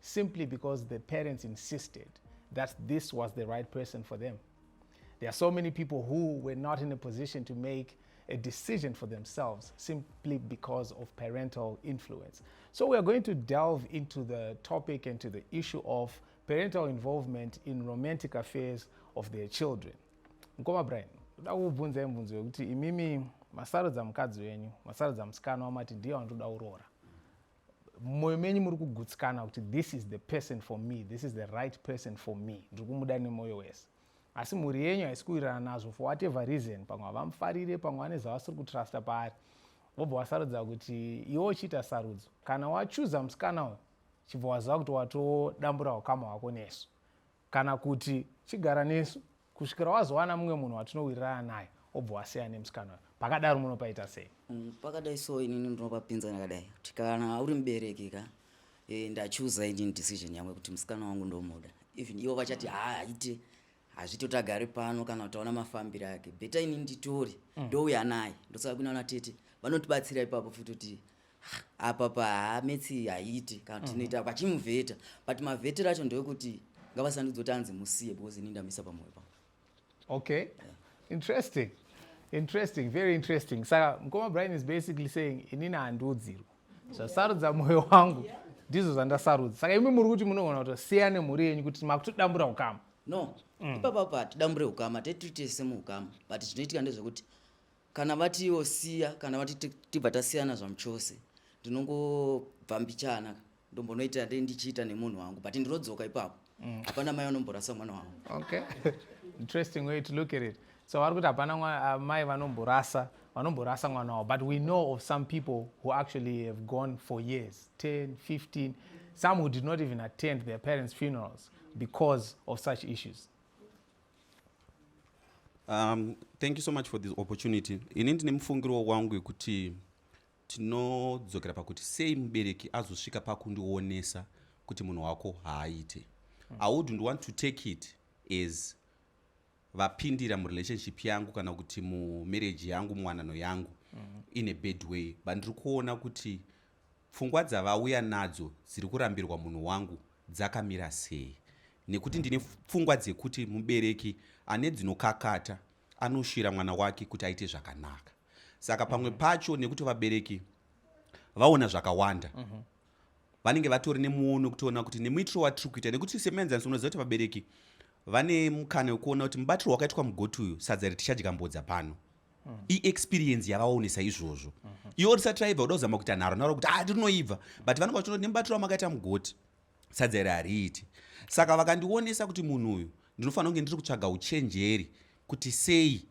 simply because the parents insisted that this was the right person for them. There are so many people who were not in a position to make a decision for themselves simply because of parental influence. So we are going to delve into the topic and to the issue of parental involvement in romantic affairs of their children. Nkoma Brian, ndoda kukubvunza imvunzo yokuti imimi masarudza mukadzi wenyu, masarudza musikana wamati ndiye wandoda kuroora. mumwoyo menyu muri kugutsikana kuti this is the person for me this is the right person for me ndiri kumuda nemwoyo wese asi mhuri yenyu haisi kuwirirana nazvo for whatever reason pamwe havamufarire pamwe vane zvavasiri kutrusta paari wobva wasarudza kuti iwe uchiita sarudzo kana wachuza musikana uyu chibva waziva kuti watodambura ukama hwako nesu kana kuti chigara nesu kusvikira wazowana mumwe munhu watinowirirana naye obva wasiya nemusikana uyo pakadaro munopaita sei mm, pakadai so inini ndinopapinzana kadai kuti kana uri mubereki ka e, ndachuza inini decision yangu kuti musikana wangu ndomuda even ivo vachati haa haite hazvito tagari pano kana utaona mafambiro ake beta ini nditori mm. ndouya naye ndosaka kunaona tete vanotibatsira ipapo futi kuti apa pametsi haiti kana kuti tinoita mhm. vachimuvheta but mavhetero acho ndewekuti ngavasandudze kuti anzi musiye because ini ndamisa pamoyo pangu okay yeah. interesting interesting very interesting saka mkoma brian is basically saying inini handiudzirwa zvasarudza moyo wangu ndizvo zvandasarudza saka imi muri kuti munogona kutosiya nemhuri yenyu kuti makutodambura ukama no mm. ipapapa tidambure ukama tetitese muukama but zvinoitika ndezvekuti kana vati iwo siya kana vati tibva tasiyana zvamuchose ndinongobva mbichana ndombonoita dei ndichiita nemunhu wangu but ndinodzoka ipapo mm. hapana mai vanomborasa mwana wangu okay interesting way to look at it so vari kuti hapana uh, mai vanomborasa vanomborasa mwana wavo but we know of some people who actually have gone for years 10 15 some who did not even attend their parents funerals because of such issues Um, thank you so much for this opportunity ini ndine mufungiro wangu yekuti tinodzokera pakuti sei mubereki azosvika pakundionesa kuti munhu wako haaite hmm. i wouldn't want to take it as vapindira murelationship yangu kana kuti mumarriage yangu muwanano yangu mm -hmm. in a bad way but ndiri kuona kuti Pfungwa dzavauya nadzo dziri kurambirwa munhu wangu dzakamira sei? Nekuti ndine pfungwa dzekuti mubereki ane dzinokakata anoshira mwana wake kuti aite zvakanaka. Saka pamwe mhm. pacho nekuti vabereki vaona zvakawanda mm -hmm vanenge vatori nemuono kutoona kuti nemuitiro watiri kuita nekuti semuenzaniso unoziva kuti vabereki vane mukana wekuona kuti mubatiro wakaitwa mugoti uyu sadza ritichadya mbodza pano mm. iexperience yavaonesa izvozvo mm -hmm. iwo risatraiva uda kuzama kuita nharo nharo kuti ah tinoibva but vanenge vachionoti nemubatiro wamakaita mugoti sadza iri hariiti saka vakandionesa kuti munhu uyu ndinofanira kunge ndiri kutsvaga uchenjeri kuti sei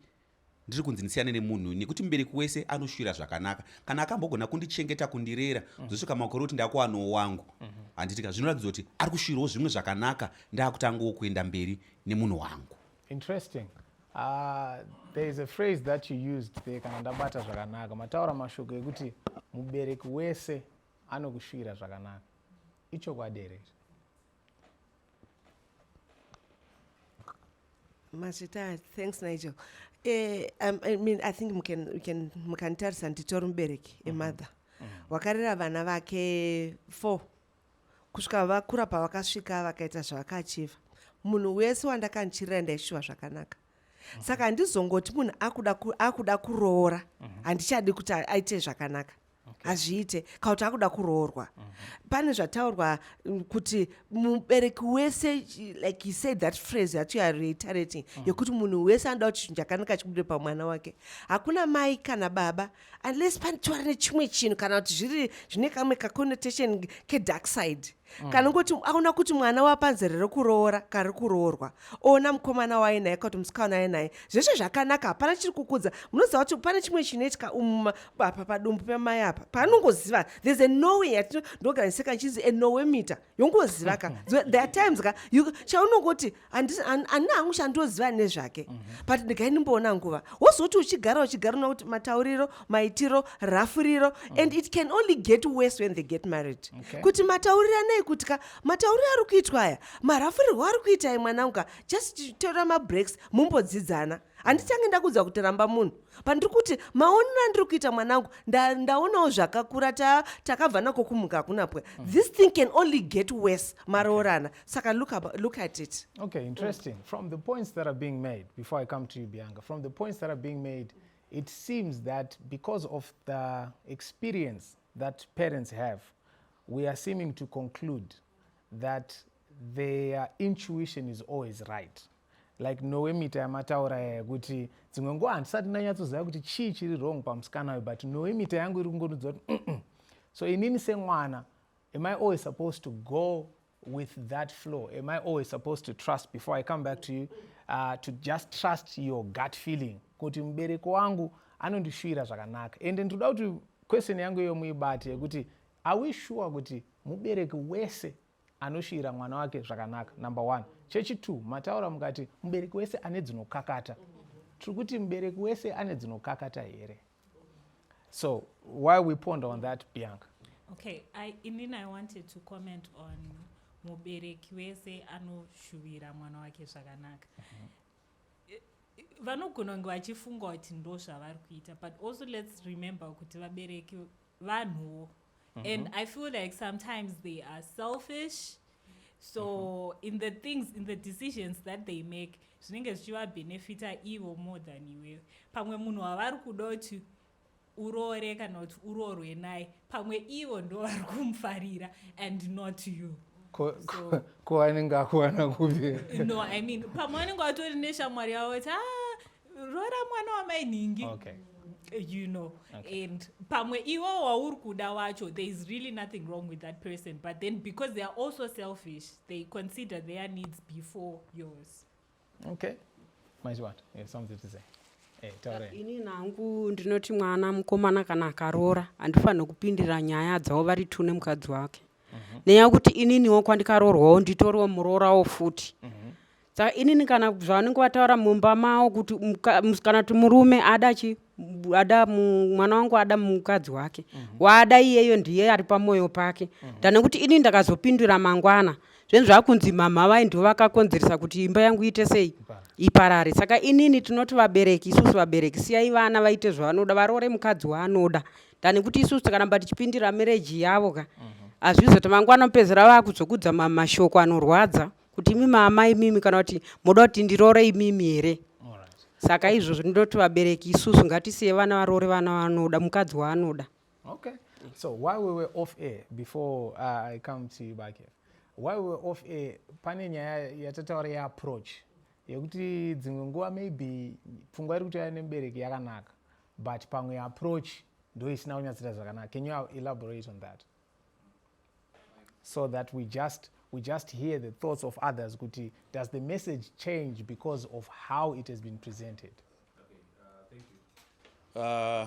ndiri kunzi ndisiyane nemunhu nekuti mubereki wese anoshuvira zvakanaka kana akambogona kundichengeta kundirera mm. zvosvika makore kuti ndakuwanawo wangu mm-hmm. handitika zvinoratidza kuti ari kushuvirawo zvimwe zvakanaka ndaakutangawo kuenda mberi nemunhu wangu Interesting. Uh, there is a phrase that you used there kana ndabata zvakanaka mataura mashoko ekuti mubereki wese anokushuvira zvakanaka ichokwadi here mazvita thanks nigel eh, um, I mean, i think mukanditarisa nditori mubereki emother mm -hmm. wakarera vana vake four Kusvika vakura pavakasvika vakaita zvavakaachiva. Munhu wese wandakanchirira ndaishuva zvakanaka. Mhm. Saka handizongoti munhu akuda akuda kuroora mhm. handichadi kuti aite zvakanaka. Hazviite okay. Kauti akuda kuroorwa. Mhm. Pane zvataurwa mm, kuti mubereki wese like he said that phrase that you are reiterating yekuti munhu wese anoda kuti zvinhu chakanaka chibude pamwana wake. Hakuna mai kana baba unless panditora nechimwe chinhu kana kuti zviri zvine kamwe kaconnotation kedark side mm. kana kuti aona kuti mwana wapanzere rekuroora kari kuroorwa oona mukomana waye naye kakuti musikana waye naye zveshe zvakanaka hapana chiri kukudza munoziva kuti pane chimwe chinoitika umuma apa padumbu pemai apa paanongoziva there's a nowe yatinogariseka chinzi a nowe mita yongozivaka there are times ka chaunongoti anina hangu chandoziva nezvake mhm. but ndigai ndimboona nguva wozoti uchigara uchigara una kuti matauriro maitiro rafuriro mhm. and it can only get worse when they get married kuti matauriro anei kuti ka matauriro ari kuitwa aya marafurirwo ari kuitai mwanangu ka just tora mabreaks mumbodzidzana handichange ndakuudza kuti ramba munhu pandiri kuti maonero andiri kuita mwanangu ndaonawo zvakakura takabva nako kumuka hakuna pwe mhm. this thing can only get worse maroorana saka look, about, look at it okay interesting mm. from the points that are being made before i come to you bianga from the points that are being made it seems that because of the experience that parents have we are seeming to conclude that their intuition is always right like nowe mita yamataura yekuti dzimwe nguva handisati ndanyatsoziva kuti chii chiri wrong pamusikana uyu but nowe mita yangu iri kungonudza kuti so inini semwana Am I always supposed to go with that flow? Am I always supposed to trust before I come back to you? Uh, to just trust your gut feeling kuti mubereko wangu anondishuvira zvakanaka ende ndinoda kuti question yangu iyo muibate yekuti are we sure kuti mubereki wese anoshiyira mwana wake zvakanaka number one chechitwo mataura mukati mubereki wese ane dzinokakata tiri kuti mubereki wese ane dzinokakata here So why we ponder on that, Bianca? Okay, I, inini I wanted to comment on mubereki wese anoshuvira mwana wake zvakanaka vanogona kunge vachifunga kuti ndo zvavari kuita but also lets remember kuti vabereki vanhuwo Mm -hmm. And I feel like sometimes they are selfish. So mm -hmm. in the things, in the decisions that they make, zvinenge zvichivabenefita ivo more than iwewe. Pamwe munhu wavari kuda kuti uroore kana kuti uroorwe naye pamwe ivo ndo vari kumufarira and not you ko anenge akuwana kupi no i mean pamwe anenge atori neshamwari yavo kuti ah, roora mwana wamai nhingi okay you know okay. and pamwe iwo wauri kuda wacho there is really nothing wrong with that person but then because they are also selfish they consider their needs before yours okay maichiwat yeah, something to say eh, ini nangu ndinoti mwana mukomana kana akaroora handifanire kupindira nyaya dzavo vari two nemukadzi wake mhm. nenyaya yekuti ininiwo kwandikaroorwawo nditoriwo muroorawo futi mm -hmm. saka inini kana zvavanenge vataura mumba mavo kuti kana kuti murume ada chi ada mwana wangu ada mukadzi wake mm -hmm. waada iyeyo ndiye ari pamwoyo pake mm -hmm. tane kuti inini ndakazopindura mangwana mm zvinhu zvakunzi mhamha vai ndivo vakakonzeresa kuti imba yangu iite sei iparare saka inini tinoti vabereki isusu vabereki siyai vana vaite zvavanoda varoore mukadzi waanoda tani kuti isusu tikaramba tichipindira mereji yavo ka mhm. hazvizoita mangwana mupedzera vakuzokudza mashoko anorwadza kuti imi maamai imimi kana kuti moda kuti ndiroore imimi here saka izvozvo ndinoti vabereki isusu ngatisiye vana varoore vana vanoda mukadzi waanoda okay so why we were off air before uh, i come to you back here why we were off air pane nyaya yatataura yeapproach yekuti dzimwe nguva maybe pfungwa iri kutouya nemubereki yakanaka but pamwe approach ndoisina kunyatsoita zvakanaka can you elaborate on that so that we just we just hear the thoughts of others kuti does the message change because of how it has been presented okay, uh, thank you. Uh,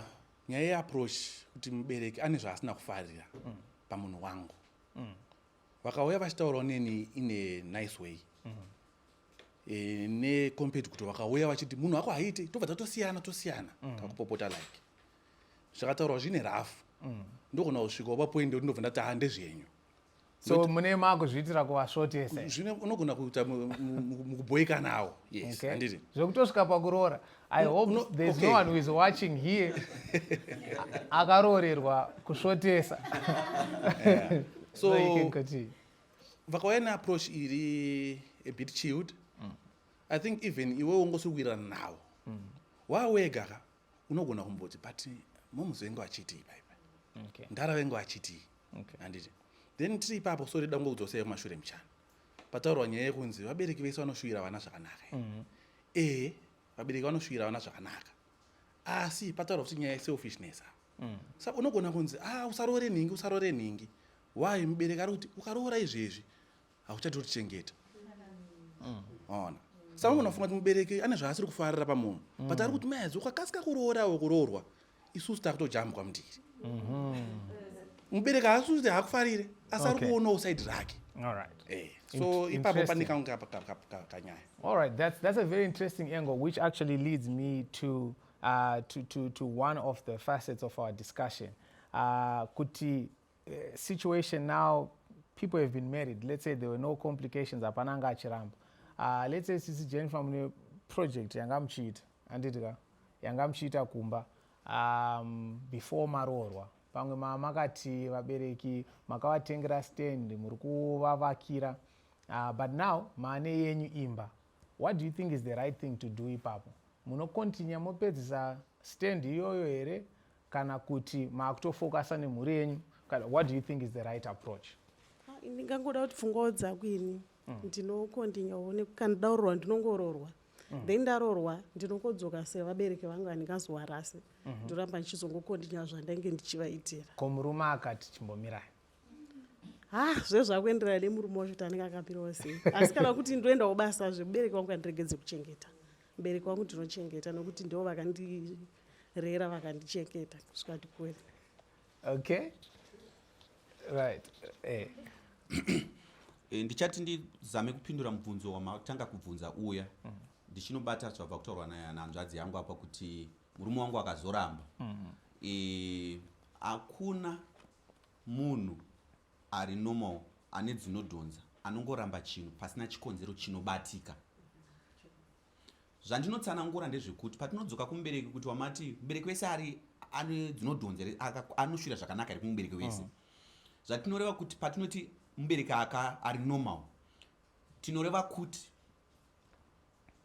nyaya yeapproach kuti mubereki ane zvaasina kufarira mm. pamunhu wangu mm. vakauya vachitaurawo neni in a nice way mm. e, necomped kuti vakauya vachiti munhu wako haiite tobva tatosiyana tosiyana mm. kakupopota like zvakataurwa zvine rafu mm. ndogona kusvikawo papoindi yekuti ndobva ndati hande zvenyu so mune makuzviitira kuvasvotese zvine unogona kuita mukubhoikanawo yes handiti zvekutosvika pakuroora i hope no, there's okay. no one who is watching here akaroorerwa kusvotesa yeah. so, so vakauya neapproach iri a bit chilled mm. i think even iwe wongosikuwirirana nawo mm. wawegaka unogona kumboti but moms vengu vachitii paipa okay. ndara vengu vachitii okay. handiti then tiri ipapo so rida ngokudzosei kumashure muchana pataurwa nyaya yekunzi vabereki vese vanoshuvira vana zvakanaka mm -hmm. e vabereki vanoshuvira vana zvakanaka asi pataurwa kuti nyaya yeselfishness apa mm. sa unogona kunzi a ah, usaroore nhingi usaroore nhingi why mubereki ari kuti ukaroora izvezvi hauchati utichengeta mm. ona saka unofunga kuti mubereki ane zvaasiri kufarira pamunhu mm. but ari kuti mazi ukakasika kuroorawo kuroorwa isusu takutojambwa mundiri mhm. mubereki haasi kuti haakufarire asi ari kuonawo saidi rake eh, so ipapo pane kanyaya all right that's, that's a very interesting angle which actually leads me to, uh, to, to, to one of the facets of our discussion uh, kuti eh, situation now people have been married let's say there were no complications hapana anga achiramba uh, let's say sisi jennifer mune project yanga muchiita anditi ka yanga muchiita kumba um, before maroorwa pamwe mama makati vabereki makavatengera stand muri kuvavakira uh, but now maane yenyu imba What do you think is the right thing to do ipapo? Munokontinya mopedzisa stand iyoyo here kana kuti maakutofokasa nemhuri yenyu? What do you think is the right approach? Ah, ndingangoda kuti pfungwawo dzako ini mm. ndinokontinya one kana ndaurorwa ndinongororwa mm. then ndarorwa ndinokodzoka sevabereki vangu andingazowarasi mm-hmm. ndoramba ndichizongokontinya zvandainge ndichivaitira ko murume akati chimbomirai ha ah, zvezvakuenderana nemurume wacho kuti anenge akamirawo sei asi kana kuti ndoenda kubasa zve mubereki wangu kandiregedze kuchengeta mubereki wangu ndinochengeta nokuti ndivo vakandirera vakandichengeta kusvika ndikuwena okay right eh. eh, ndichati ndizame kupindura mubvunzo wamatanga kubvunza uya mm. ndichinobata zvabva kutaurwa nahanzvadzi yangu apa kuti murume wangu akazoramba mm. eh, hakuna Munhu ari normal ane dzinodhonza anongoramba chinhu pasina chikonzero chinobatika. Zvandinotsanangura ndezvekuti patinodzoka kumubereki kuti wamati mubereki wese ari ane dzinodhonza here anoshwira zvakanaka here kumubereki wese mm. zvatinoreva kuti patinoti mubereki aka ari normal tinoreva kuti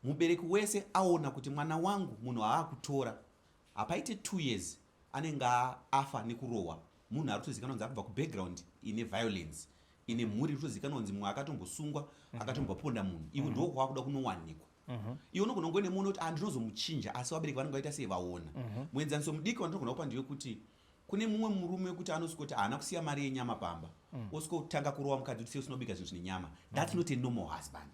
mubereki wese aona kuti mwana wangu munhu aakutora hapaite two years anenge afa nekurohwa munhu ari kutozikanwa kunzi akubva kubackground ine violence ine mhuri iri kutozikanwa kunzi mumwe akatombosungwa mhm. akatomboponda munhu iwe mhm. ndoo kwakuda kunowanikwa mhm. iwe unogona kuve nemunhu wekuti andinozomuchinja ah, asi vabereki vanenge vaita sei vaona muenzaniso mudiki wandinogona kupa ndiwe kuti kune mumwe murume wekuti anosvikoti haana kusiya mari yenyama pamba mm. osvikotanga kurova mukadzi kuti sei usinobika zvinhu zvine nyama thats mm. not a normal husband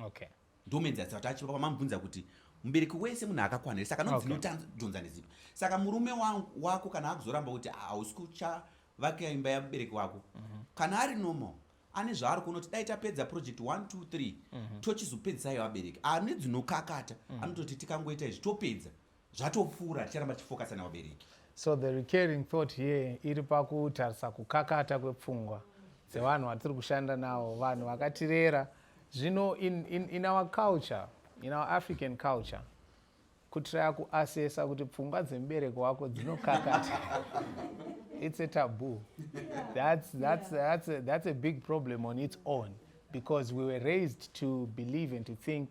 okay. ndomenzaisa kuti achipa pamamubvunza kuti mubereki wese munhu akakwana here saka nodzinotadhonza okay. nezipo saka murume wako kana akuzoramba kuti hausi kuchavakira imba yamubereki wako mm -hmm. kana ari normal ane zvaari kuona kuti dai tapedza project 123 mm -hmm. tochizopedzisaivabereki ane dzinokakata mm -hmm. anototi tikangoita izvi topedza zvatopfuura ticharamba tichifokasa nevabereki so the recurring thought here iri pakutarisa kukakata kwepfungwa dzevanhu vatiri kushanda nawo vanhu vakatirera zvino in, in, in our culture in our african culture kutiraya kuasesa kuti pfungwa dzemubereki wako dzinokakata it's a taboo that's, that's, that's, a, that's a big problem on its own because we were raised to believe and to think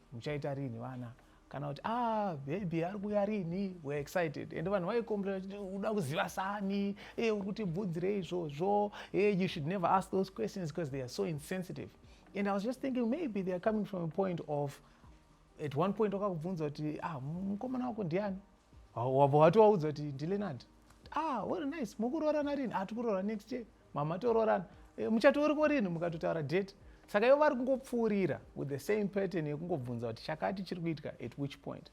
muchaita rini vana kana kuti ah baby ari kuuya rini were excited and vanhu vaicomplaina vachiti uda kuziva sani e eh, uri kuti bvudzirei izvozvo e eh, you should never ask those questions because they are so insensitive and i was just thinking maybe they are coming from a point of at one point wakakubvunza kuti ah mukomana wako ndiani wabva wati waudza kuti ndilenandi ah well nice mukuroorana rini ah tikuroora next year mama toroorana e, muchato uriko rinhi mukatotaura date saka ivo vari kungopfuurira with the same pattern yekungobvunza kuti chakati chiri kuitika at which point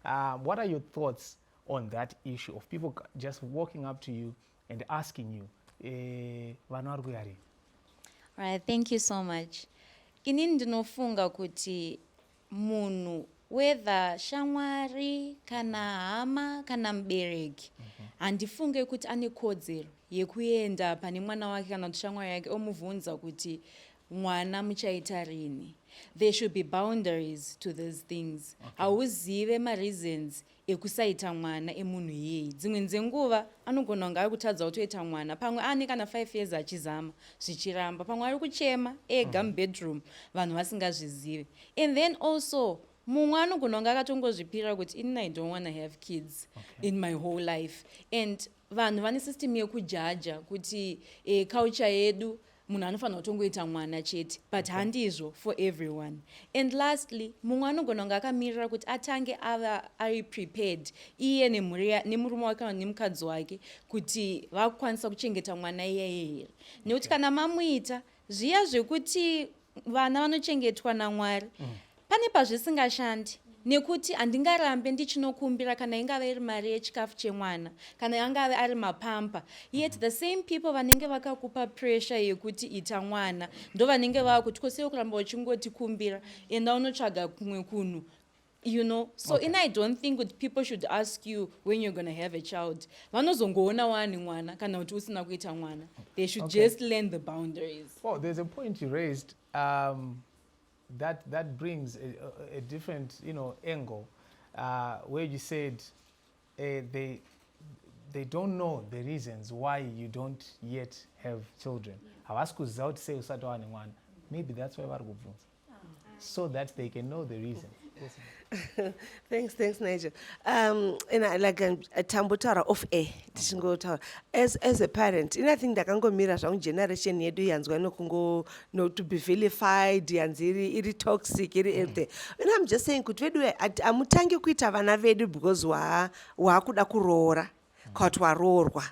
um, what are your thoughts on that issue of people just walking up to you and asking you eh, vana vari kuya rini right thank you so much inini ndinofunga kuti munhu whether shamwari kana hama kana mubereki mhm. handifunge kuti ane kodzero yekuenda pane mwana wake kana kuti shamwari yake omubvunza kuti mwana muchaita rini there should be boundaries to these things hauzive okay. mareasons okay. ekusaita mwana emunhu iyeye dzimwe nzenguva anogona kunge ari kutadza kutoita mwana pamwe aane kana 5 years achizama zvichiramba pamwe ari kuchema ega mhm. mubedroom vanhu vasingazvizive and then also mumwe anogona kunge akatongozvipira kuti inini i don't wanna have kids okay. in my whole life and vanhu vane system yekujaja kuti e, culture yedu munhu anofanira kutongoita mwana chete but okay. handizvo for everyone and lastly mumwe anogona kunge akamirira kuti atange ava ari prepared iye nemurume wake kana nemukadzi wake kuti vakukwanisa kuchengeta mwana iyeye here nekuti okay. kana mamuita zviya zvekuti vana vanochengetwa namwari mm. Pane pazvisingashandi nekuti handingarambe ndichinokumbira kana ingave iri mari yechikafu chemwana kana angave ari mapampa yet the same people vanenge vakakupa pressure yekuti ita mwana ndo vanenge vava kuti kosei kuramba uchingotikumbira enda unotsvaga kumwe kunhu you know so okay. in i don't think kuti people should ask you when you're gonna have a child vanozongoona wani mwana kana kuti usina kuita mwana they should okay. just learn the boundaries well there's a point you raised um, That, that brings a, a, a different you know, angle uh, where you said uh, they, they don't know the reasons why you don't yet have children havasi kuziva kuti sei usati wava nemwana maybe that's why vari kubvunza so that they can know the reason thanks thanks nigel um and I, like um, tambotaura off air tichingotaura as, as a parent ini i think ndakangomira zvangu generation yedu yanzwa nokungo no to be vilified yanzi iri iri toxic iri mm. everything and i'm just saying kuti vedu amutangi kuita vana vedu because waakuda kuroora kana kuti waroorwa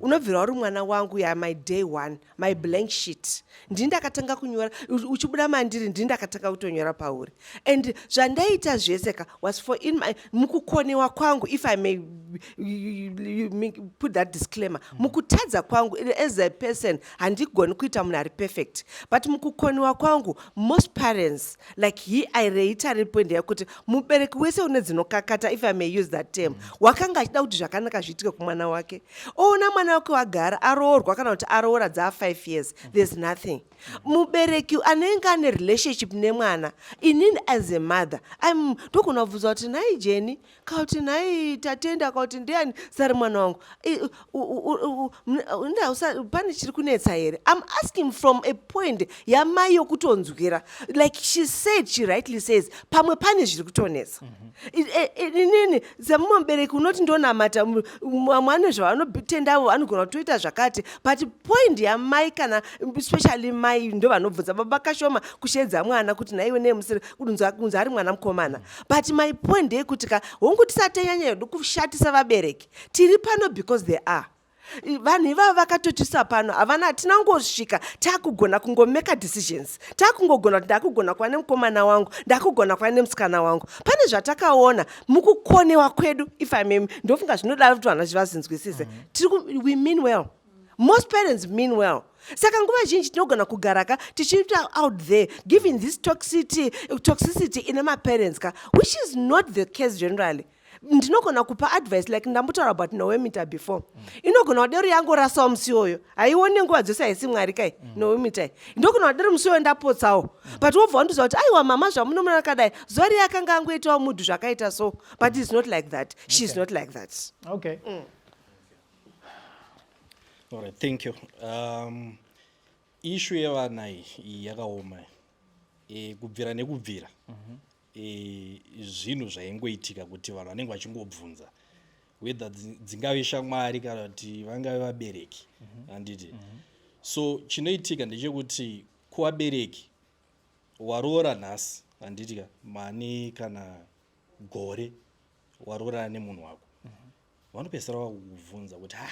unobvira uri mwana wangu ya my day one my blank sheet ndini ndakatanga kunyora uchibuda mandiri ndini ndakatanga kutonyora pauri and zvandaita zvese ka was for in my mukukonewa kwangu if i may put that disclaimer mm. mukutadza kwangu as a person handigoni kuita munhu ari perfect but mukukonewa kwangu most parents like he i reitare point yakuti mubereki wese une dzinokakata if i may use that term mm. wakanga achida kuti zvakanaka zviitike kumwana wake oona mwana wake wagara aroorwa kana kuti aroora dzaa five years mm. there's nothing mubereki anenge ane relationship nemwana inini as a mother im ndogona kubvunza kuti nhai jeni kauti nhai tatenda kauti ndiani sari mwana wangu pane chiri kunetsa here im asking from a point yamai yokutonzwira like she said she rightly says pamwe pane zviri kutonetsa mhm. e, e, inini semumwe mubereki unoti ndonamata mwana zvavanotendavo vanogona kutoita zvakati but point yamai kana especially mai ndo vanobvunza baba kashoma kusheedza mwana kuti nhaiwe nemusiri kunzi ari mwana mukomana mhm. but my point ndeyekuti ka hongu tisatanyanya yedu kushatisa vabereki tiri pano because they are vanhu ivavo vakatotisa pano havana hatina kungosvika takugona kungomeka decisions takungogona kuti ndakugona kuva nemukomana wangu ndakugona kuva nemusikana wangu pane zvatakaona mukukonewa kwedu if imem ndofunga zvinoda kuti vanhu vachivazinzwisise mm -hmm. we mean well most parents mean well saka nguva zhinji tinogona kugara ka tichiita out there giving this toxicity, toxicity ine maparents ka which is not the case generally ndinogona kupa advice like ndambotaura about nowemita before mm. inogona wadero yangorasawo musi oyo haione nguva dzose haisi mwari kai mm. nowemita ndogona wadero musi oyo ndapotsawo mm. but wobva wandiziva kuti aiwa mama zvamunomona kadai zuva riye akanga angoitawo mudhu zvakaita so but is not like that she is not like that okay mm. All right, thank you. Um, ishu yevana iyi yakaoma e, kubvira nekubvira mm -hmm. e, zvinhu zvaingoitika kuti vanhu vanenge vachingobvunza whether dzingave shamwari kana kuti vangave vabereki mhm. handiti mm -hmm. so chinoitika ndechekuti kuvabereki waroora nhasi handiti ka mani kana gore waroorana nemunhu wako mm -hmm. vanopedzisira vakukubvunza kuti ha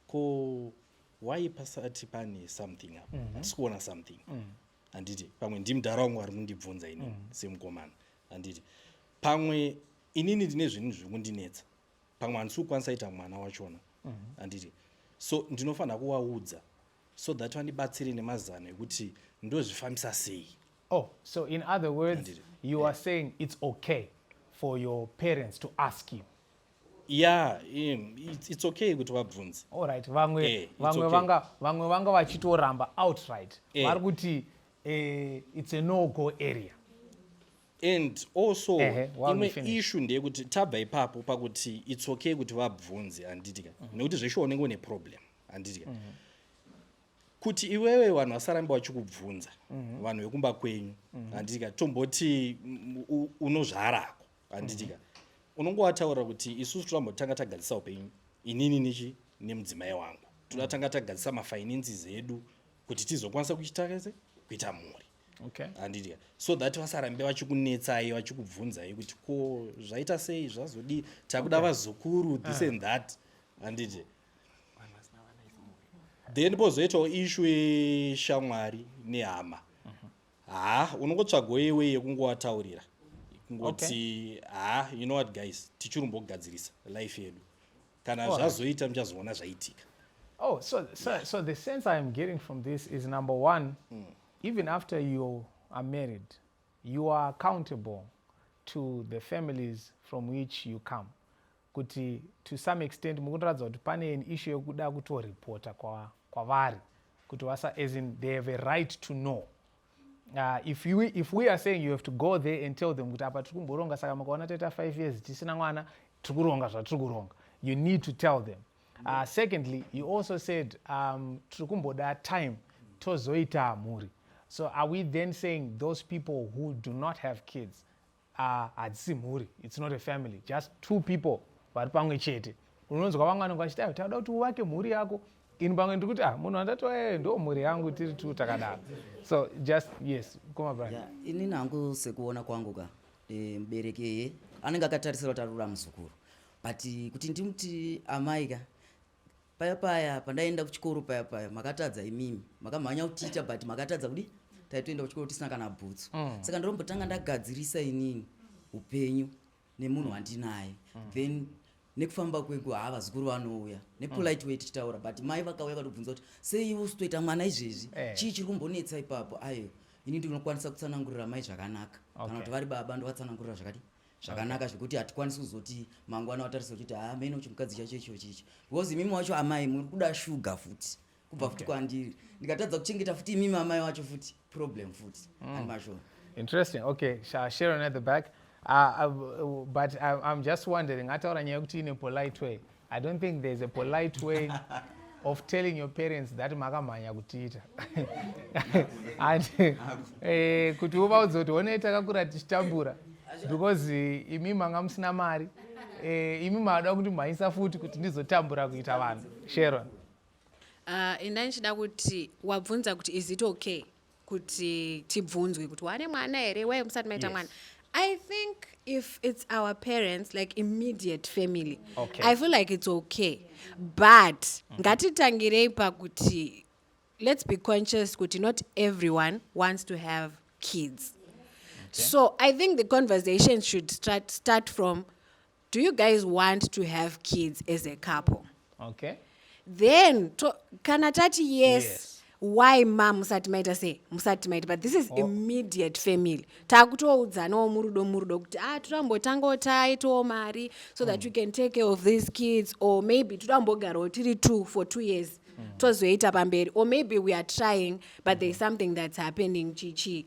ko why pasati pane something apa mhm. hatisi kuona something mhm. handiti mm. pamwe ndimudhara wangu ari kundibvunza ini mm. semukomana handiti pamwe inini ndine zvinhu zviri kundinetsa pamwe handisi kukwanisa ita mwana wachona mhm. handiti mm. so ndinofanira kuvaudza so that vandibatsire nemazano ekuti ndozvifambisa sei oh so in other words Andiri. you are yeah. saying it's okay for your parents to ask you Yeah, um, it's, it's okay kuti vabvunze. Alright, vamwe Eh, it's vamwe okay. vanga vamwe vanga vachitoramba outright. Eh. Vari kuti eh, it's a no go area. And also Ehe, while we imwe finish. issue ndeyekuti tabva ipapo pakuti it's okay kuti vabvunze handitika. Nekuti zveshe unenge une problem handitika. Kuti iwewe vanhu vasarambe vachikubvunza vanhu vekumba kwenyu handitika tomboti mm, u- unozvarako handiti ka unongo wataura kuti isusu tinombotanga tagadzisa upenyu inini nichi nemudzimai wangu toda tanga tagadzisa mafinances edu kuti tizokwanisa kuchitakese kuita mhuri okay. handiti ka so that vasarambe vachikunetsai vachikubvunzai kuti ko zvaita sei zvazodii takuda okay. vazukuru this ah. and that handiti then pozoitawo ishu yeshamwari nehama haa unongotsvagawo yewe yekungowataurira kungoti okay. haa you know what guys tichirumbogadzirisa life yedu kana oh, zvazoita muchazoona zvaitika oh so, so, yeah. so the sense i am getting from this is number one mm. even after you are married you are accountable to the families from which you come kuti to some extent mukutoratidza kuti pane an issue yekuda kutoripota kwavari kwa kuti vasa as in they have a right to know uh, if, you, if we are saying you have to go there and tell them kuti apa tiri kumboronga saka makaona taita five years tisina mwana tiri kuronga zvatiri kuronga you need to tell them uh, secondly he also said um, tiri kumboda time tozoita mhuri so are we then saying those people who do not have kids Ah, hadzisi mhuri its not a family just two people vari pamwe chete unonzwa vamwe vanenge vachiti ayo tauda kuti uvake mhuri yako ini pamwe ndiri kuti ah munhu andati waye ndo mhuri yangu tiri two takadaro so just yes koma bra yeah, ini nangu sekuona kwangu ka e, mubereki eye anenge akatarisira kuti arura muzukuru but kuti ndimti amai ka paya paya pandaienda kuchikoro paya paya makatadza imimi makamhanya kutiita but makatadza kudi taitoenda kuchikoro tisina kana bhutsu mm. saka ndinombotanga ndagadzirisa inini upenyu nemunhu wandinaye mm. then nekufamba kwengu haa vazukuru vanouya nepolite mm. way tichitaura but mai vakauya katobvunza kuti sei ivo usitoita mwana izvezvi eh. chii chiri kumbonetsa ipapo ayo ini ndinokwanisa kutsanangurira mai zvakanaka kana kuti vari baba ndovatsanangurira zvakadii zvakanaka zvekuti hatikwanisi kuzoti mangwana watarisa uchiti ha ah, mene chimukadzi chacho icho chicho because imimi wacho amai muri kuda shuga futi kubva futi kwandiri ndikatadza kuchengeta futi imimi amai wacho futi problem futi mm. and mashona interesting okay sharon at the back uh, uh, but I'm, i'm just wondering ataura nyaya yekuti ine polite way I don't think there's a polite way of telling your parents that makamhanya kutiita and eh, kuti uvaudze kuti honei takakura tichitambura because eh, imi manga musina mari eh, imi maada kuti mhanyisa futi kuti ndizotambura kuita vanhu sharon uh, ah, inda ndichida kuti wabvunza kuti is it okay kuti tibvunzwe kuti wane mwana here wai musati maita mwana yes. I think if it's our parents, like immediate family, okay. I feel like it's okay. But mm-hmm. ngatitangirei pakuti let's be conscious kuti not everyone wants to have kids. Okay. So I think the conversation should start start from do you guys want to have kids as a couple okay then to, kana tati yes, yes why ma musati maita sei musati maita but this is oh. immediate family takutoudzanawo murudo murudo kuti ah totambotangawo taitawo mari so that mm. you can take care of these kids or maybe totambogarawo tiri two for two years mm. tozoita pamberi or maybe we are trying but mm. thereis something that's happening chichii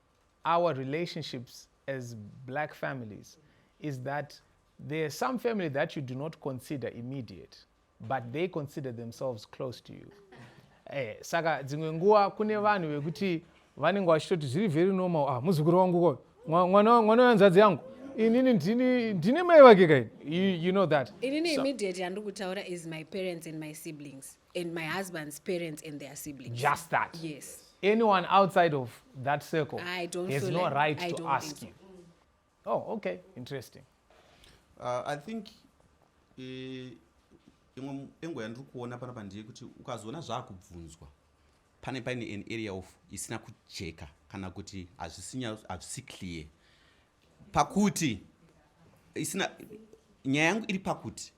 our relationships as black families is that there are some family that you do not consider immediate but they consider themselves close to you eh, saka dzimwe nguva kune vanhu vekuti vanenge vachitoti zviri very normal ah, muzukuru wangu ko mwana mwana wenzadzi yangu inini ndini ndine mai vake kaini you, you know that inini so, immediate yandiri kutaura is my parents and my siblings and my husband's parents and their siblings. Just that. Yes. Anyone outside of that circle I don't has no like, right I to ask so. you. Oh, okay. Interesting. Uh, I think eh, imwe engo yandiri kuona panapa ndiye kuti ukazoona zvaakubvunzwa pane paine an area of isina kujeka kana kuti hazvisi clear pakuti isina nyaya yangu iri pakuti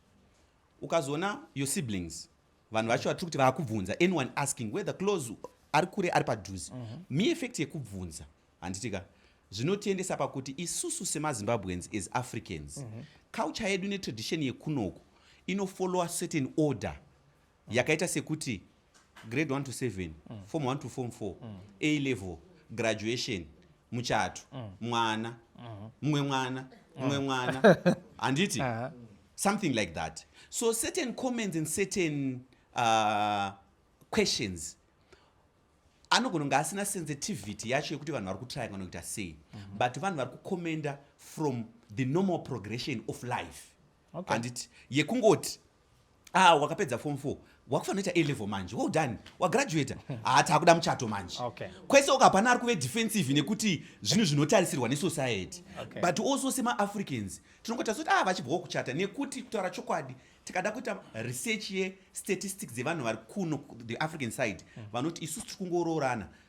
ukazoona your siblings vanhu vacho vatiri kuti vakubvunza anyone asking whether close ari kure ari padhuze mm -hmm. mi effect yekubvunza handitika zvinotiendesa pakuti isusu semazimbabweans as africans mm -hmm. culture yedu netradition yekunoku inofollowa certain order yakaita sekuti grade 1 to 7 mm. form 1 to form 4 mm. a level graduation muchato mm. mwana mm-hmm. mumwe mm. mwana mumwe mm. mwana handiti uh -huh. something like that so certain comments and certain uh, questions anogona kunge asina sensitivity yacho yekuti vanhu vari kutraya kana kuita sei mm -hmm. but vanhu vari kucommenda from the normal progression of life okay. anditi yekungoti Ah, wakapedza form 4 wakufanoita a level manje well done wagraduata haa taakuda muchato manje okay. kwese oka hapana ari kuve defensive nekuti zvinhu zvinotarisirwa nesociety okay. but also semaafricans tinongotaura kuti ah vachibvawo kuchata nekuti kutaura chokwadi tikada kuita research yestatistics dzevanhu vari kuno the african side mm. vanoti isu tiri kungoroorana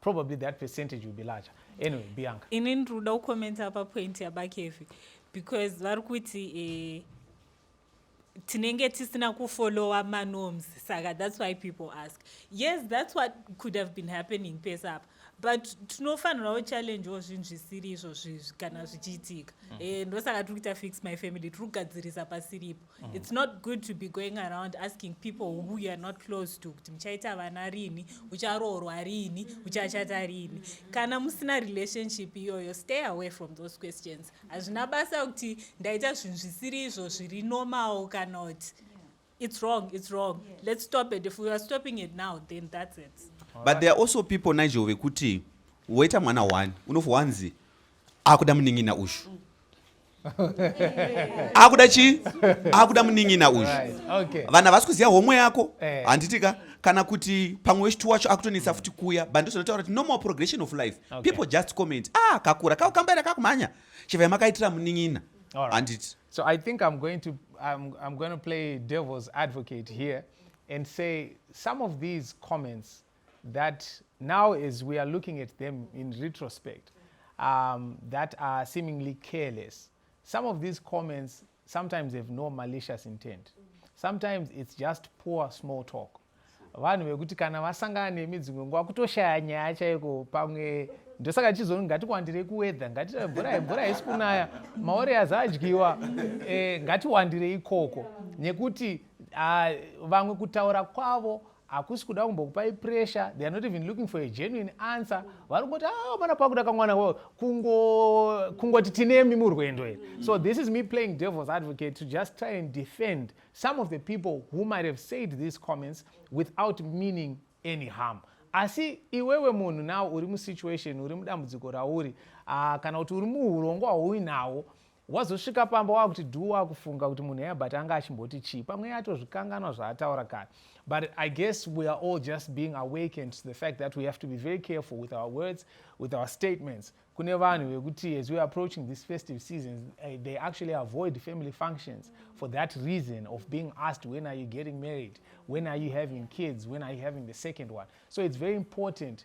probably that percentage will be larger anyway bianca ini ndiri kuda kukomenta pa point yabakevi because vari kuti eh, tinenge tisina kufollowa manorms saka that's why people ask yes that's what could have been happening pesa apa but tinofanirawo challengewo zvinhu zvisiri izvo zvizvi kana zvichiitika mm. eh, ndosaka tiri kuita fix my family tiri kugadzirisa pasiripo Mm. It's not good to be going around asking people who you are not close to kuti muchaita vana rini ucharoorwa rini uchachata rini kana musina relationship iyoyo stay away from those questions hazvina basa kuti ndaita zvinhu zvisiri izvo zviri normal kana kuti it's wrong it's wrong yeah. let's stop it if we are stopping it now then that's it All but right. there are also people nigel vekuti woita mwana one unofanzi akuda munin'ina ushu mm. akuda chii akuda munin'ina uyu vanhu havasi kuziva homwe yako eh. handitika kana kuti pamwe wechitu wacho akutonetsa futi kuya but ndozvinotaura kuti normal progression of life people just comment ah kakura kakukambaira kakumhanya chivai makaitira munin'ina handiti so i think i'm going to I'm, i'm going to play devil's advocate here and say some of these comments that now as we are looking at them in retrospect um, that are seemingly careless some of these comments sometimes have no malicious intent sometimes it's just poor small talk vanhu vekuti kana vasangana nemi dzimwe nguva kutoshaya nyaya chaiko pamwe ndosaka chizoni ngatiwandirei kuwedha ngatimvura mvura haisi kunaya maoreas adyiwa e, ngatiwandirei ikoko nekuti a, vamwe kutaura kwavo hakusi kuda kumbokupai pressure they are not even looking for a genuine answer vari kungoti ah mana pakuda kamwana wo kungoti kungo tinemi murwendo here mm-hmm. so this is me playing devil's advocate to just try and defend some of the people who might have said these comments without meaning any harm asi iwewe munhu now uri musituation uri mudambudziko rauri uh, kana kuti uri muurongwa hwauinawo Wazosvika pamba wakuti dhuu wakufunga kuti munhu heya but anga achimboti chii pamwe atozvikanganwa zvaataura kare but i guess we are all just being awakened to the fact that we have to be very careful with our words with our statements kune vanhu vekuti as weare approaching this festive seasons eh, they actually avoid family functions for that reason of being asked when are you getting married when are you having kids when are you having the second one so it's very important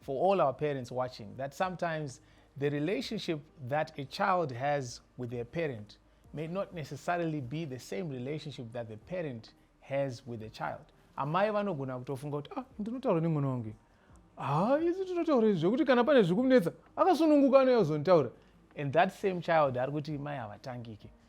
for all our parents watching that sometimes the relationship that a child has with their parent may not necessarily be the same relationship that the parent has with the child amai vanogona kutofunga kuti ah ndinotaura nemwana wangu ha ah, isu tinotaura izvi zvekuti kana pane zviri kumunetsa akasununguka anoyozonitaura and that same child ari kuti mai havatangike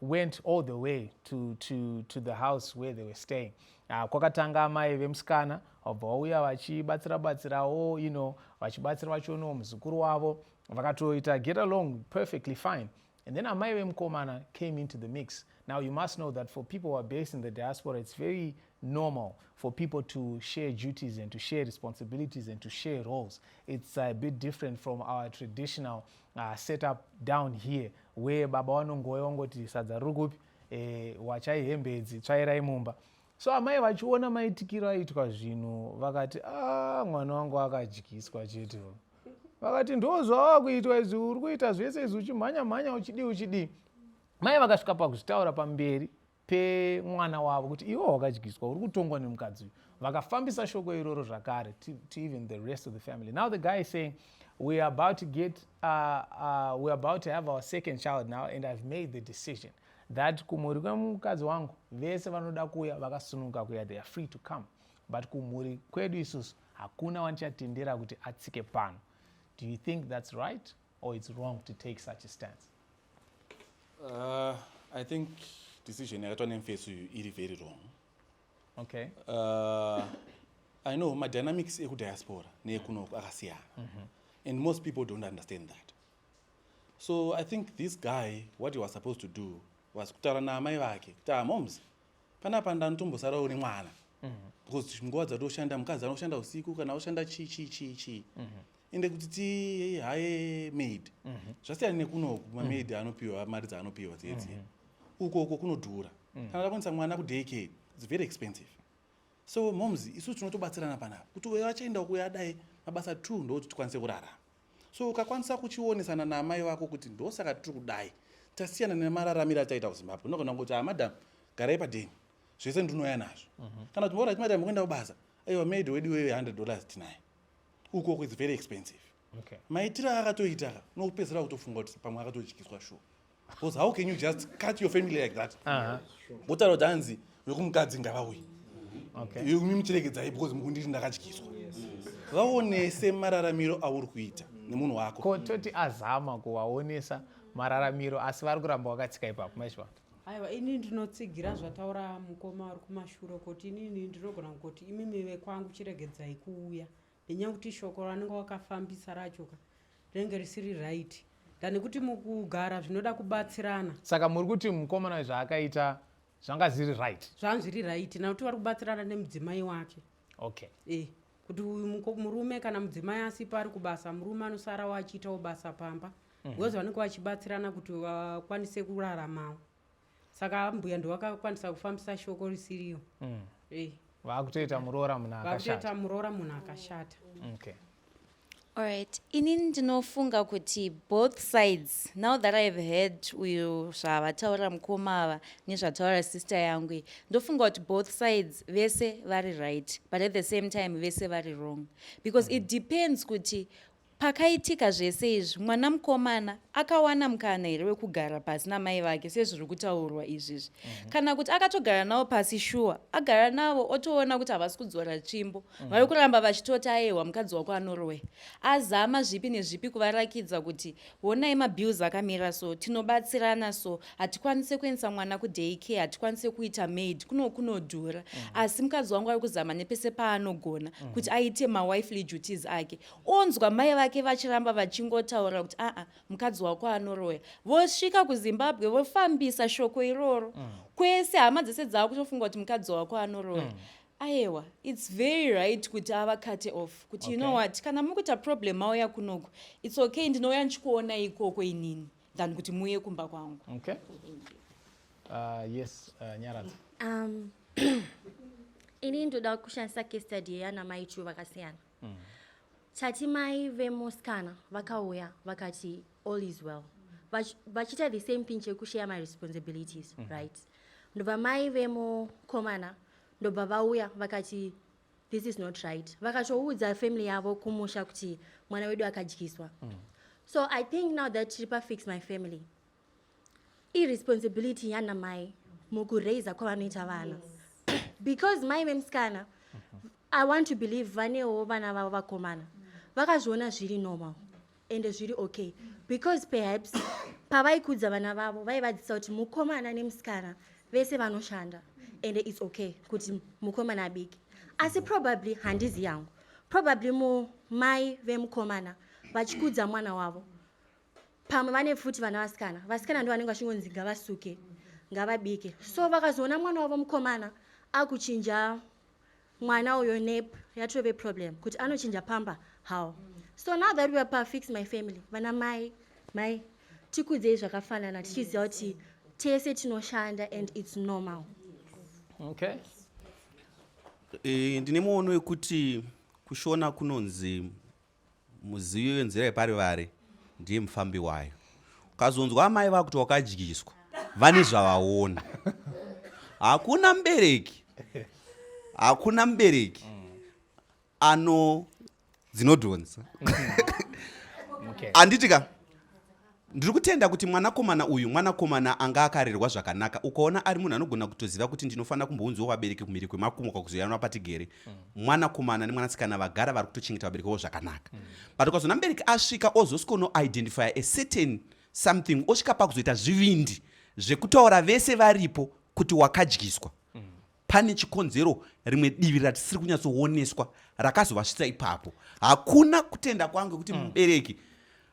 went all the way to, to, to the house where they were staying uh, kwakatanga amai vemusikana vabva vauya vachibatsira batsirawo you know vachibatsira vachionawo muzukuru wavo vakatoita get along perfectly fine and then amai vemukomana came into the mix now you must know that for people who are based in the diaspora it's very normal for people to share duties and to share responsibilities and to share roles it's a bit different from our traditional Ah, set up down here where baba wanongouya wangoti sadza riri kupi eh, wachai hembe idzi tsvairai mumba so amai vachiona maitikiro aitwa zvinhu vakati ah, mwana wangu akadyiswa chete vakati ndozvawava kuitwa izvi uri kuita zvese izvi uchimhanya mhanya uchidii uchidii mai vakasvika pakuzvitaura pamberi pemwana wavo kuti iwe wakadyiswa uri kutongwa nemukadzi uyu vakafambisa shoko iroro zvakare to, to even the rest of the family now the guy is saying we are about to get uh, uh, we are about to have our second child now and i've made the decision that kumhuri kwemukadzi wangu vese vanoda kuuya vakasunuka kuya they are free to come but kumhuri kwedu isusu hakuna wanichatendera kuti atsike pano do you think that's right or it's wrong to take such a stance uh, i think decision yakaitwa nemfesi uyu iri very wrong okay uh, i know madynamics ekudiaspora neekunoko akasiyana mm -hmm. and most people don't understand that so i think this guy what he was supposed to do was kutaura naamai vake kuti amoms panapa ndanotombosara une mwana mm -hmm. because nguva dzatoshanda mukadzi anoshanda usiku kana oshanda chii chii chii chii mm -hmm. ende kuti tihaye maid mhm. zvasiyana nekuno mamaid mhm. anopiwa mari dzaanopiwa dziye dziye mhm. uko uko kunodhura kana takwanisa mwana kudaycare its very expensive so moms isu tinotobatsirana panapa kuti uyo achaenda ukuya adai mabasa two ndokuti tikwanise kurarama so ukakwanisa kuchionesana naamai vako kuti ndosaka tiri kudai tasiyana nemararamiro achaita kuzimbabwe unogona kuti amadam ah, garai padeni zvese ndinouya nazvo kana kuti mora timadam kuenda kubasa aiwa maid wedu wewe hundred dollars tinaye ukoko its very expensive okay. maitiro aakatoita unopedzisira kutofunga kuti pamwe akatodyiswa shuwa because how can you just cut your family like that wotaura kuti hanzi vekumukadzi ngavauyi imi muchiregedzai because mukunditi ndakadyiswa vaonese mararamiro auri kuita nemunhu wako ko toti azama kuvaonesa mararamiro asi vari kuramba wakatsika ipapo maizvivanga Aiwa ini ndinotsigira zvataura mukoma ari kumashure kuti inini ndinogona kuti imimi vekwangu chiregedzai kuuya nenyaya kuti shoko ranenge wakafambisa rachoka rinenge risiri right than kuti mukugara zvinoda kubatsirana saka muri kuti mukomana zvaakaita zvanga zviri right zvanga zviri right nakuti vari kubatsirana nemudzimai wake okay e kuti uyu murume kana mudzimai asipo ari kubasa murume anosara wachiitawo basa pamba mhm. because vanenge vachibatsirana kuti vakwanise kuraramawo saka ambuya ndovakakwanisa kufambisa shoko risiriyo mm. eh. vakutoita muroora munhu akashata muroora munhu akashata okay Alright, ini ndinofunga kuti both sides now that I've heard uyu zvavataura mukoma ava nezvataura sister yangu ndofunga kuti both sides vese vari right but at the same time vese vari wrong because it depends kuti Pakaitika zvese izvi, mwana mukomana akawana mukana here wekugara pasi namai vake sezviri kutaurwa izvizvi? mm -hmm. Kana kuti akatogara navo pasi shuwa, agara navo otoona kuti havasi kudzora tsvimbo, mm -hmm. vari kuramba vachitoti ayehwa mukadzi wako anoroya. Azama zvipi nezvipi kuvarakidza kuti honai mabills akamira so, tinobatsirana so, hatikwanise kuendesa mwana kuday care, hatikwanise kuita maid, kuno kunodhura. mm -hmm. Asi mukadzi wangu ari kuzama nepese paanogona mm -hmm. kuti aite mawifely duties ake. onzwa mai vake vachiramba vachingotaura kuti aa mukadzi wako anoroya vosvika kuzimbabwe vofambisa shoko iroro mm. kwese hama dzese dzava kutofunga kuti mukadzi wako anoroya mm. ayewa its very right kuti ava cate off kuti okay. you know what kana muri kuita problem mauya kunoku its okay ndinouya ndichikuona ikoko inini than kuti muuye kumba kwangu okay. uh, yes uh, nyaradza um, ini ndoda kushandisa case study yana mai chu vakasiyana mm. tati mai vemusikana vakauya vakati all is well vachiita the same thing chekushare my responsibilities mm -hmm. right ndobva mai vemukomana ndobva vauya vakati this is not right vakatoudza family yavo kumusha kuti mwana wedu akadyiswa mm. so i think now that tiri pafix my family iresponsibility yana mai mukuraiza kwavanoita vana because mai vemusikana i want to believe vanewo vana vavo vakomana vakazviona zviri normal ende zviri okay because perhaps pavaikudza vana vavo vaivadzisa kuti mukomana nemusikana vese vanoshanda ende its okay kuti mukomana abiki asi probably handizi yangu probably mumai vemukomana vachikudza mwana wavo pamwe vane pfuti vana vasikana vasikana ndo vanenge vachingonzi ngavasuke ngavabike so vakazoona mwana wavo mukomana akuchinja mwana uyo nep yatove problem kuti anochinja pamba how so now that weare pafix my family vana mai mai tikudzei zvakafanana tichiziva kuti tese tinoshanda and its normal okay eh, ndine muono wekuti kushona kunonzi Muzivi wenzira yeparivari ndiye mufambi wayo. Ukazonzwa amai vakuti wakadyiswa vane zvavaona. Hakuna mubereki hakuna mubereki ano dzinodhonza. Handiti ka? Ndiri kutenda kuti mwanakomana uyu mwanakomana anga akarerwa zvakanaka ukaona ari munhu anogona kutoziva kuti ndinofanira kumbounziwa vabereki kumhiri kwemakumuka kuzoyanwa patigere mm. mwanakomana nemwanasikana vagara vari kutochengeta vabereki vavo zvakanaka mm. but ukazoona mubereki asvika ozosikono identifya a certain something osvika pakuzoita zvivindi zvekutaura vese varipo kuti wakadyiswa mm. pane chikonzero rimwe divi ratisiri kunyatsooneswa rakazovasvitsa ipapo hakuna kutenda kwangu yekuti mm. mubereki mm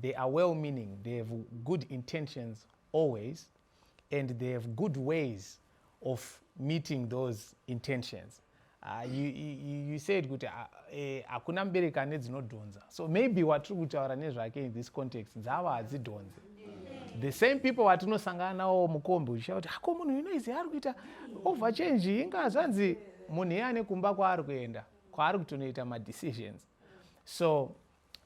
They are well meaning, they have good intentions always and they have good ways of meeting those intentions. Uh, you, you, you said kuti ah, eh, hakuna uh, eh, mubereki ane dzinodhonza so maybe watiri kutaura nezvake in this context dzava hadzidhonze the same people vatinosangana nawo mukombi uchiita kuti hako munhu ino izi ari kuita over change inga zvanzi munhu iye ane kumba kwaari kuenda kwaari kutonoita madecisions so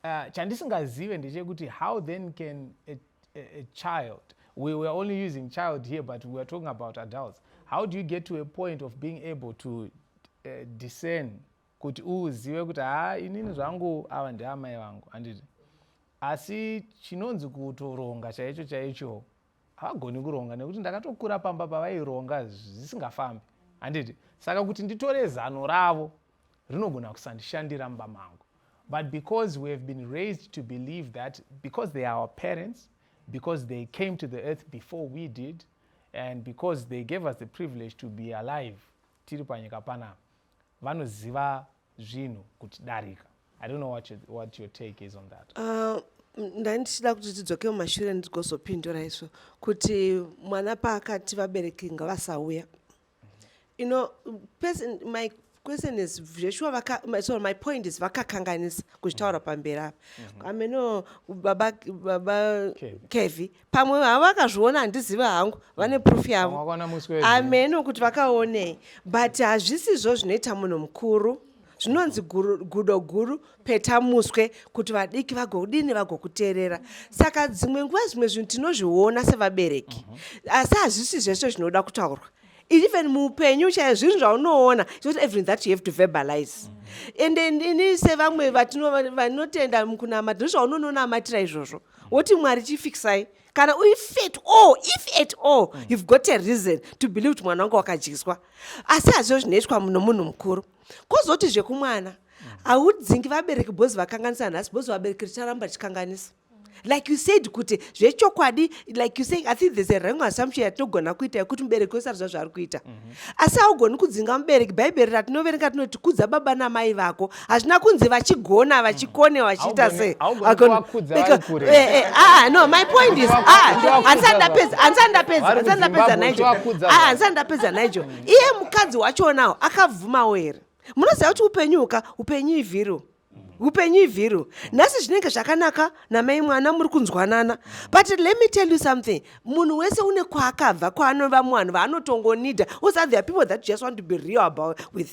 Uh, chandisingazive ndechekuti how then can a, a, a child we were only using child here but we were talking about adults how do you get to a point of being able to uh, discern kuti uzive kuti haa inini zvangu ava ndiamai vangu handiti asi chinonzi kutoronga chaicho chaicho havagoni kuronga nekuti ndakatokura pamba pavaironga zvisingafambi handiti saka kuti nditore zano ravo rinogona kusandishandira mumba mangu but because we have been raised to believe that because they are our parents because they came to the earth before we did and because they gave us the privilege to be alive tiri panyika panapa vanoziva zvinhu kutidarika i don't know what your, what your take is on that uh, ndandichida kuti tidzoke mumashure ndigozopindura izvo kuti mwana paakati vabereki ngavasauya you know person my question is zveshuwa vaka my, sorry my point is vakakanganisa kuzvitaura mm. pamberi apa mm-hmm. ameno baba baba kevi pamwe havakazviona handiziva hangu vane mm. proof yavo ameno kuti vakaonei but hazvisizvo zvinoita munhu mukuru zvinonzi gudo guru peta muswe kuti vadiki vagodini vagokuteerera saka dzimwe nguva zvimwe zvinhu tinozviona sevabereki mhm. asi hazvisi zvese zvinoda kutaurwa even muupenyu chaiyo zvinhu zvaunoona not everything that you have to verbalize and ini sevamwe vanotenda mukunamata ndizvo zvaunononamatira izvozvo woti mwari chifikisai kana if at all if at all you've got a reason to believe kuti mwana wanga wakadyiswa asi hazvo zvinoitwa nomunhu mukuru kozoti zvekumwana haudzingi vabereki bhozi vakanganisa nhasi bhozi vabereki richaramba richikanganisa like you said kuti zvechokwadi like you say i think there's a wrong assumption yatinogona kuita yekuti mubereki wese ariziva zvaari kuita mhm. asi haugoni kudzinga mubereki bhaibheri ratinoverenga tinoti kudza baba namai vako hazvina kunzi vachigona vachikone mhm. vachiita sei eh, eh, ah, ah, no my point is ah, handisani ndapedza handisani ndapedza handisani ndapedza nigel handisani ndapedza nigel iye mukadzi wachonawo akabvumawo here munoziva kuti upenyu uka upenyu ivhiro upenyu ivhiro nhasi zvinenge zvakanaka namai mwana muri kunzwanana but let me tell you something munhu wese une kwaakabva kwaanova muvanhu vaanotongonida usathea people that just want to be real about with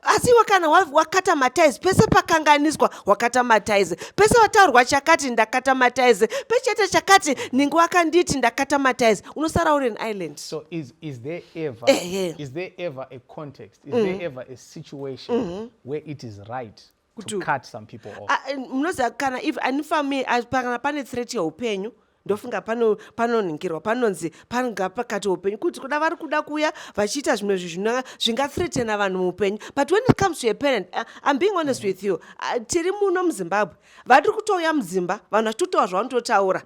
asi iwe kana wakata mataizi pese pakanganiswa wakata mataizi pese wataurwa chakati ndakata mataizi pechete chakati ninge wakanditi ndakata mataizi unosara uri an island so is, is there ever, eh, yeah. is there ever a context is mm. there ever a situation mm -hmm. where it is right to cut some people off ah, eh, munoziva kana if ani family ah, kana pane threat yeupenyu ndofunga panonhingirwa panonzi panga pakati upenyu kuti kuda vari kuda kuuya vachiita zvimwe zvinhu zvingathreatena vanhu muupenyu but when it comes to a parent uh, im being honest with you uh, tiri muno muzimbabwe vari kutouya mudzimba vanhu vachitotaura zvavanototaura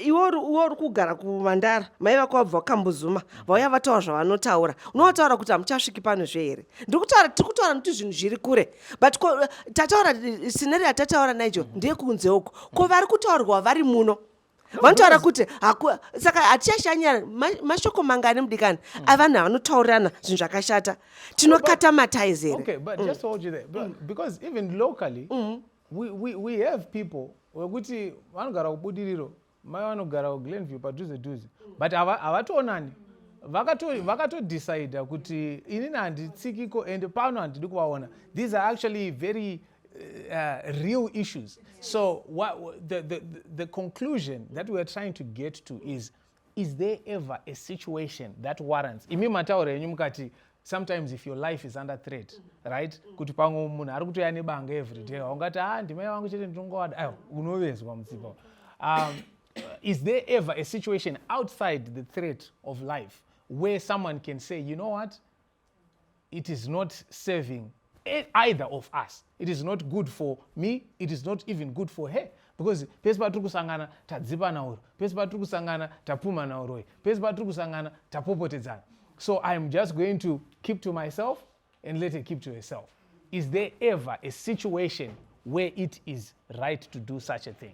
iwe uri kugara kumandara mai vako vabva vakambozuma vauya vataura zvavanotaura unovotaura kuti hamuchasviki pano zve here ndiri kutaura tiri kutaura nokuti zvinhu zviri kure but ko eh, tataura eh, sineri yatataura naijo mm-hmm. ndekunze uko ko vari kutaurwa vari muno vanotaura kuti saka hatichashanyira mashoko mangani mudikani mm. avanhu avanotaurirana zvinhu zvakashata tinokata mataizi here wekuti vanogara kubudiriro mai vanogara kuglenview padhuze dhuze but havatoonani vakatodecida kuti inini handitsikiko and pano handidi kuvaona these are actually very uh, real issues so what, the, the, the conclusion that weare trying to get to is is there ever a situation that warrants imi mataura enyu mukati sometimes if your life is under threat mm-hmm. right mm-hmm. kuti pamwe munhu ari kutoya nebanga every day mm-hmm. ungati ha ah, ndimai vangu chete ndinongowada ayo unovezwa mutsipa um, is there ever a situation outside the threat of life where someone can say you know what it is not serving Eh, either of us it is not good for me it is not even good for her because pese patiri kusangana tadzipana uro pese patiri kusangana tapumana uroi pese patiri kusangana tapopotedzana so i am just going to keep to myself and let her keep to herself is there ever a situation where it is right to do such a thing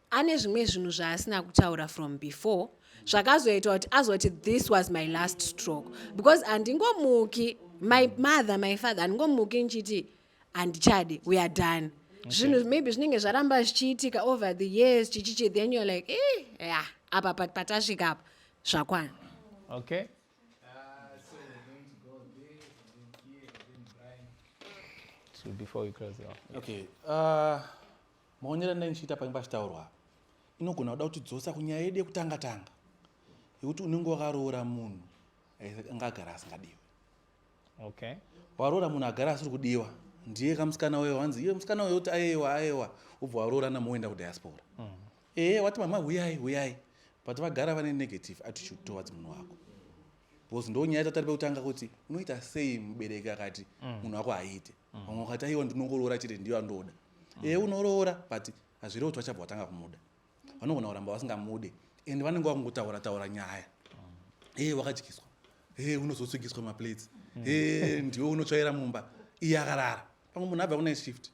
ane zvimwe zvinhu zvaasina kutaura from before zvakazoitwa kuti azoti this was my last stroke because handingomuki my mother my father handingomuki ndichiti handichade weare done zvinhu okay. maybe zvinenge zvaramba zvichiitika over the years chichichi then you're like eh, yeah, apa patasvika apa zvakwana okay before we close it off. Okay. Uh, Maonero andai ndichiita pange pachitaurwa apa inogona kuda kuti dzosa kunyaya yedu yekutanga tanga yekuti unenge wakaroora munhu anga agara asingadiwe okay waroora munhu agara asiri kudiwa ndiye kamusikana uyo wanzi iye musikana uyo kuti ayewa ayewa ubva waroora namo woenda kudiaspora mm. ehe wati mama huyai huyai but vagara vane negative attitude towards munhu wako because ndonyaya yatati ari pekutanga kuti unoita sei mubereki akati mm. munhu wako haiite mm. vamwe wakati aiwa ndinongoroora chete ndiyo andoda mm. ee unoroora but hazvirewo kuti vachabva vatanga kumuda vanogona kuramba vasingamude and vanenge vakungotaura taura nyaya ee wakadyiswa ee unozotswigiswa maplates ee ndiwe unotsvaira mumba iye akarara pamwe munhu abva kune shift mm.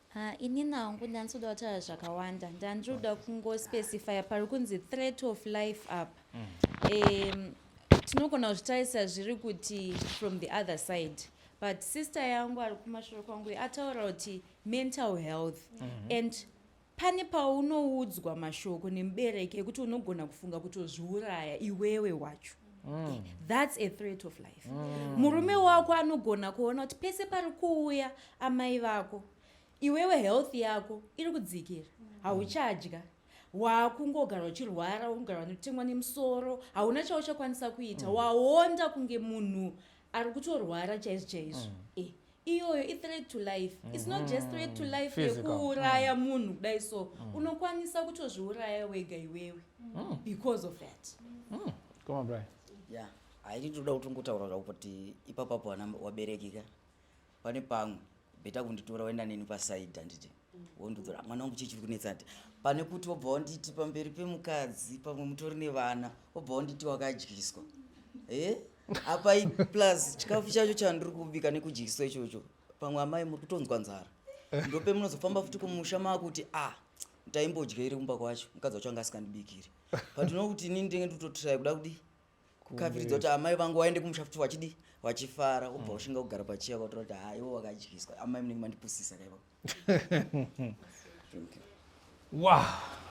Haa inini hangu ndanzi kuda kutaura zvakawanda ndanzi kuda kungospecifya pari kunzi threat of life apa um tinogona kuzvitarisa zviri kuti from the other side but sister yangu ari kumashure kwangu ataura kuti mental health mm -hmm. and pane paunoudzwa mashoko nemubereki ekuti unogona kufunga kutozviuraya iwewe wacho Mm. Eh, thats a threat of life mm. murume wako anogona kuona kuti pese pari kuuya amai vako iwewe health yako iri kudzikira mm. hauchadya mm wakungogara uchirwara wakungara vanotemwa nemusoro hauna chauchakwanisa kuita mm. waonda kunge munhu ari kutorwara chaizvo chaizvo mm. eh, iyoyo ithreat to life mm -hmm. its not just threat to mm-hmm. life yekuuraya mm. munhu kudai so mm. unokwanisa kutozviuraya wega iwewe mm. because of that mm. koma bri yeah haiti toda kuti ngotaura zvako kuti ipapapo ana waberekika pane pamwe beta kunditora waenda neni pasaidi handiti wondodzora mwana wangu chii chiri kunetsa ati pane kuti wobva wanditi pamberi pemukadzi pamwe mutori nevana wobva wanditi wakadyiswa e eh? apa plus chikafu chacho chandiri kubika nekudyiswa ichocho pamwe amai muri kutonzwa nzara eh? ndope munozofamba futi kumusha maakuti a ah, taimbodya iri kumba kwacho mukadzi wacho anga asikandibikiri but unokuti inini ndenge nditotirai kuda kudii kukaviridzwa kuti amai vangu waende kumusha futi wachidi wachifara ubva mm. ushinga kugara pachiya kwatora kuti ha iwo wakadyiswa amai munenge mandipusisa kaiva wow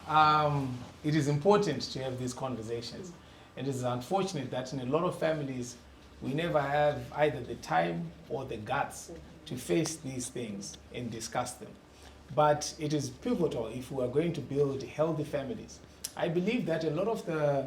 um, it is important to have these conversations and it is unfortunate that in a lot of families we never have either the time or the guts to face these things and discuss them but it is pivotal if we are going to build healthy families i believe that a lot of the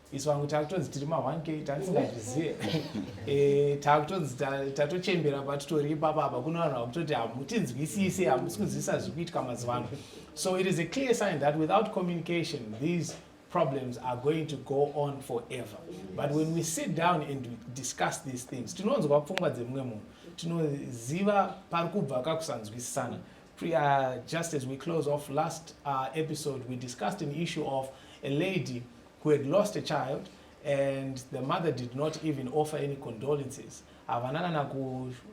isu vangu takutonzi tiri ma 1k tatisingazvizive eh, takutonzi tatochembera patitori ipapa apa kuno vanhu vakutoti hamutinzwisise hamusi kunzwisisa zviri kuitika mazuva ano so it is a clear sign that without communication these problems are going to go on forever but when we sit down and we discuss these things tinonzwa pfungwa dzemumwe munhu tinoziva pari kubva kakusanzwisisana uh, just as we close off last uh, episode we discussed an issue of a lady who had lost a child and the mother did not even offer any condolences havana kana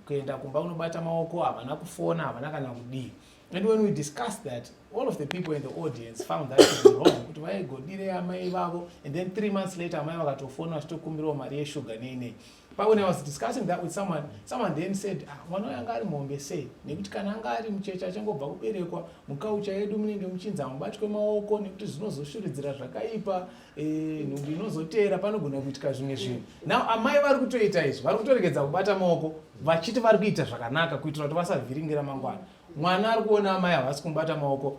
kuenda kumba unobata maoko havana kufona havana kana kudii and when we discussed that all of the people in the audience found that to be wrong kuti vaigodire amai vavo and then three months later amai vakatofona vachitokumbirawo mari yeshuga nei nei But when I was discussing that with someone, someone then said, ah, mwana uyu anga ari mombe sei? Nekuti kana anga ari mucheche achangobva kuberekwa, mukaucha yedu munenge muchinzi hamubatwe maoko nekuti zvinozoshuridzira zvakaipa, eh, nhumbu inozoteera panogona kuitika zvimwe zvinhu. Now amai vari kutoita izvi, vari kutoregedza kubata maoko vachiti vari kuita zvakanaka kuitira kuti vasavhiringira mangwana. Mwana ari kuona amai havasi kumubata maoko